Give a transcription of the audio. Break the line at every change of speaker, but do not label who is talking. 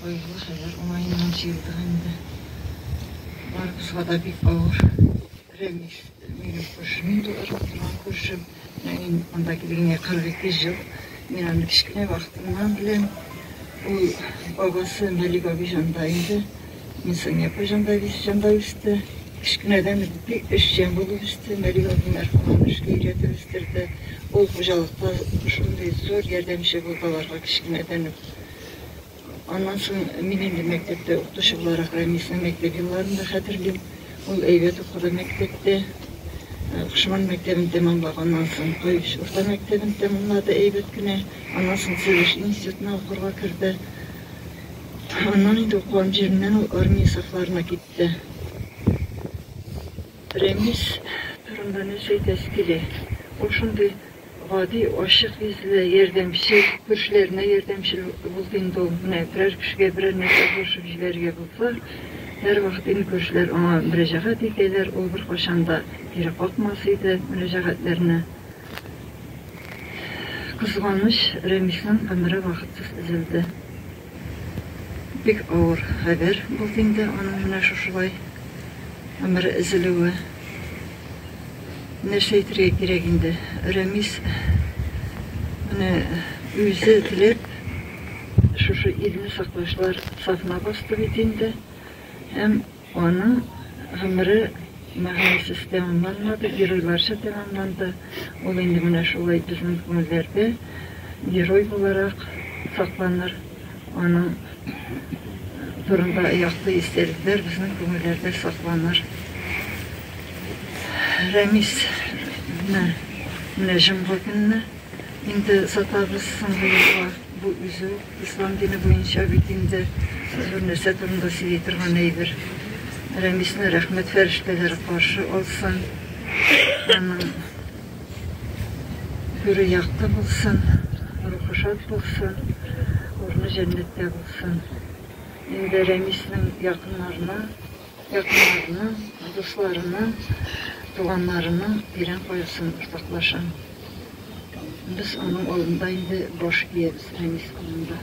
Каешлы шәҗәр уңаеннан чиертер инде. Бар кошка да бик авыр. Рәмис, минем күршем инде ул, туган күршем. Менә мин монда килгәнгә 42 ел. Мин аны кечкенә вакытыннан беләм. Ул бабасы Мәлик абый җанда инде. Мин Сания апа җанда җанда үсте. Кечкенәдән үк бик эшчән булып үсте. Мәлик абый мәрхүм аны эшкә өйрәтеп үстерде. Ул хуҗалыкта шундый зур ярдәмче булды аларга кечкенәдән үк. Аннан соң мин инде мәктәптә укытучы буларак Рәмисне мәктәп елларын да хәтерлим. Ул әйбәт укыды мәктәптә. Кушман мәктәбен тәмамлаганнан соң Каюш урта мәктәбен тәмамлады әйбәт кенә. Аннан соң Сөйлеш институтына укырга керде. Аннан инде укыган җиреннән ул армия сафларына китте. Рәмис турында нәрсә әйтәсе килә? Ул шундый Гади, ачык йөзле, ярдәмчел, күршеләренә ярдәмчел булды инде ул. Менә берәр кешегә берәр нәрсә булышып җибәрергә булса, һәрвакыт инде күршеләр аңа мөрәҗәгать итәләр, ул беркайчан да кире какмас иде мөрәҗәгатьләрне. Кызганыч, Рәмиснең гомере вакытсыз өзелде. Бик авыр хәбәр булды инде аның менә шушылай гомере өзелүе. Нәрсә әйтергә кирәк инде? Рәмис менә үзе теләп шушы илне саклаучылар сафына басты бит инде. Һәм Аның гомере мәгънәсез тәмамланмады, геройларча тәмамланды. Ул инде менә шулай безнең күңелләрдә герой буларак сакланыр. Аның турында якты истәлекләр безнең күңелләрдә сакланыр. Рәмис менә җомга көнне инде сатабыз соңгы юлга. Бу үзе үк ислам дине буенча бит инде зур нәрсә турында сөйли торган әйбер. Рәмисне рәхмәт фәрештәләре каршы алсын, аның күре якты булсын, рухы шат булсын, урыны җәннәттә булсын. Инде Рәмиснең якыннарына, Якыннарының, дусларының, туганнарының тирән кайгысын уртаклашам. Без аның алдында инде баш иябез Рәмис урынында.